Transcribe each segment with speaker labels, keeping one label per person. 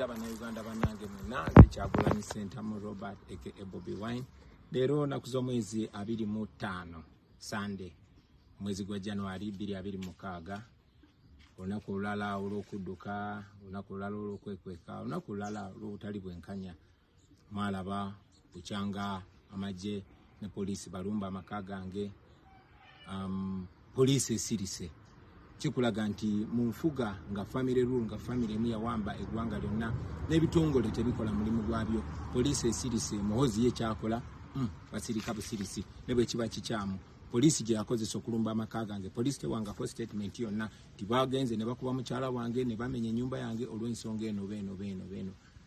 Speaker 1: Abanauganda banange mwena nze Kyagulanyi Ssentamu Robert aka Bobi Wine. Leero naku z'omwezi abiri mu ttaano Sunday omwezi gwa January bbiri abiri mukaaga olunaku olulala olw'okudduka olunaku olulala olw'okwekweka olunaku olulala olw'obutali bwenkanya mwalaba bukyanga amagye ne poliisi balumba amaka gange um, poliisi esirise kikulaga nti mu nfuga nga famire rule nga famire emu yawamba eggwanga lyonna n'ebitongole tebikola mulimu gwabyo poliisi esirise muhozi ye kyakola mm, basirika busirisi ne bwe kiba kikyamu poliisi gye yakozesa okulumba amaka gange poliisi tewangako statement yonna nti bagenze ne bakuba mukyala wange ne bamenya ennyumba yange olw'ensonga eno beeno beeno beeno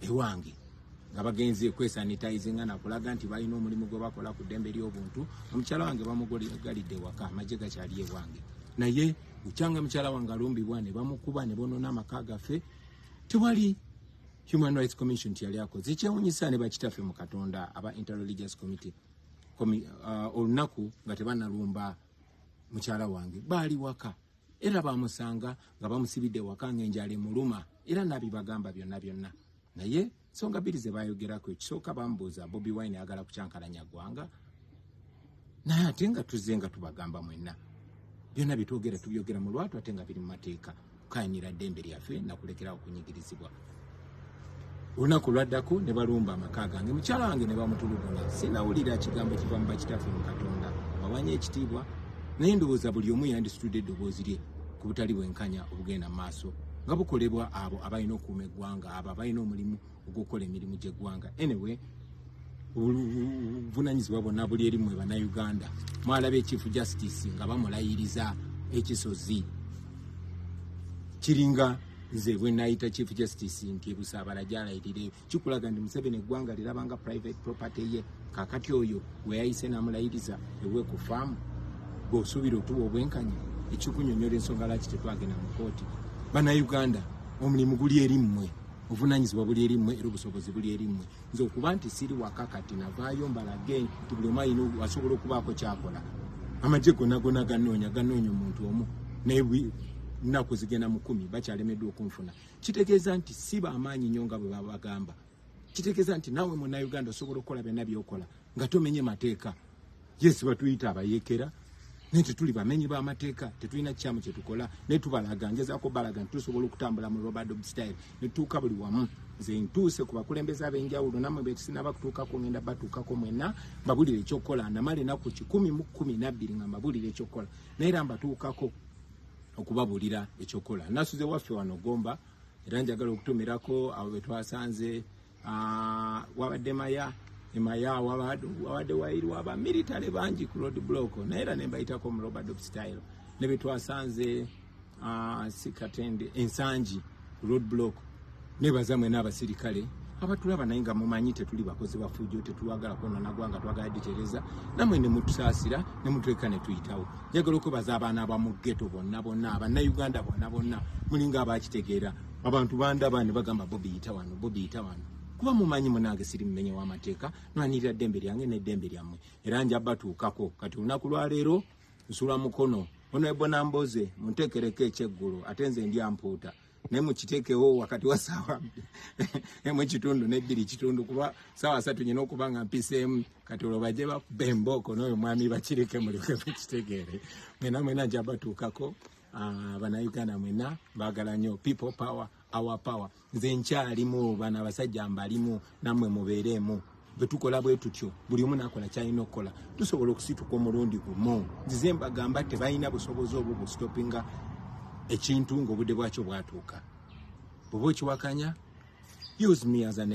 Speaker 1: ewange nga bagenze kwesanitizinga nakulaga nti balina omulimu gwe bakola ku ddembe ly'obuntu omukyala wange bamugalidde ewaka amagye gakyali ewange naye bukyanga mukyala wange alumbibwa ne bamukuba ne bonoona amaka gaffe tewali human rights commission tiyali akoze ekyewunyisa ne bakitaffe mu katonda aba interreligious committee uh, olunaku nga tebanalumba mukyala wange baali waka era bamusanga nga bamusibidde waka ng'enjala emuluma era nabibagamba byonna byonna naye nsonga bbiri ze bayogerako ekisooka bamubuuza bobi wine ayagala kukyankalanya ggwanga naye ate nga tuzze nga tubagamba mwenna byonna byetwogera tubyogera mu lwatu ate nga biri mu mateeka kukayinira ddembe lyaffe nakulekerawo okunyigirizibwa olunaku lwaddako ne balumba amaka gange mukyala wange ne bamutulugunya sinawulira kigambo kiva mu bakitaffe mu katonda bawanya ekitiibwa naye ndowooza buli omu yandisitudde eddoboozi lye ku butali bwenkanya obugenda mu maaso nga bukolebwa abo abalina okuuma eggwanga abo abalina omulimu ogw'okukola emirimu gy'eggwanga anyway obuvunanyizibwa bwonna buli eri mwe bannayuganda mwalaba ekyifu justice nga bamulayiriza ekisozi kiringa nze bwenayita chief justice nti busabala gyalayirire kikulaga nti museveni eggwanga lirabanga private property ye kakati oyo weyayise namulayiriza ewe ku faamu bweosuubira otuwa obwenkanya ekikunyonyola ensonga lwaki tetwagenda mu kooti banauganda omulimu guli eri mmwe obuvunanyizibwa buli eri mmwe era obusobozi buli eri mmwe nze okuba nti siri waka kati navaayo mbalage nti buli omu alina asobola okubaako kyakola amagye gona gona ganoonya ganoonya omuntu omu naye nnaku zigenda mu kumi bakyalemeddwa okunfuna kitegeeza nti si bamaanyi nnyo nga bwe babagamba kitegeeza nti naawe munnauganda osobola okukola byonna byokola nga tomenye mateeka yes batuyita abayekera naye tetuli bamenyi b'amateeka tetulina kikyamu kye tukola naye tubalaga ngezaako balaga nti tusobola okutambula mu robert dob style ne tutuuka buli wamu nze ntuuse ku bakulembeze ab'enjawulo nammwe betusinaba kutuukako ngenda batuukako mwenna mbabulire ekyokukola namala enaku kikumi mu kkumi nabbiri nga mbabulire ekyokukola naye era mbatuukako okubabuulira ekyokukola nasuze waffe wano gomba era njagala okutumirako abo betwasanze Ah, wabadde maya emaya wabadde wayiriwo aba military bangi ku road block naye era nembayitako mu robert of style ne betwasanze ah, sikatende ensangi road block nebaza mwena abasirikale abatulaba naye nga mumanyi tetuli bakozi bafujjo tetwagala kwonona gwanga twagala ditereza namwe nemutusaasira nemutuleka netuyitawo njagala okwebaza abaana abamugeto bonna bonna abanauganda bonna bonna mulinga abakitegeera abantu bandaba ne bagamba bobi yita wano bobi yita wano kuba mumanyi munange siri mumenye w'amateeka nwanirira ddembe lyange n'eddembe lyammwe era nja batuukako kati olunaku lwaleero nsula mukono ono ebona mboze munteekereko ekyeggulo ate nze ndi ampuuta naye mukiteekewo wakati wa saawa emu ekitundu nebbiri kitundu kuba saawa satu nyina okuba nga mpiseemu kati olwo baje bakube embooko n'oyo mwami bakireke mulyoke mukitegeere mwena mwena nja batuukako Ah, banauganda mwena bagala nyo people power our power nze nkyalimu bana abasajja mbalimu namwe mubeeremu bwetukola bwetutyo buli omu nakola kyalina okukola tusobola okusituka omulundi gumu nzize mbagamba tebalina busobozi obwo bustopinga ekintu ngaobudde bwakyo bwatuuka bweba okiwakanya use me as an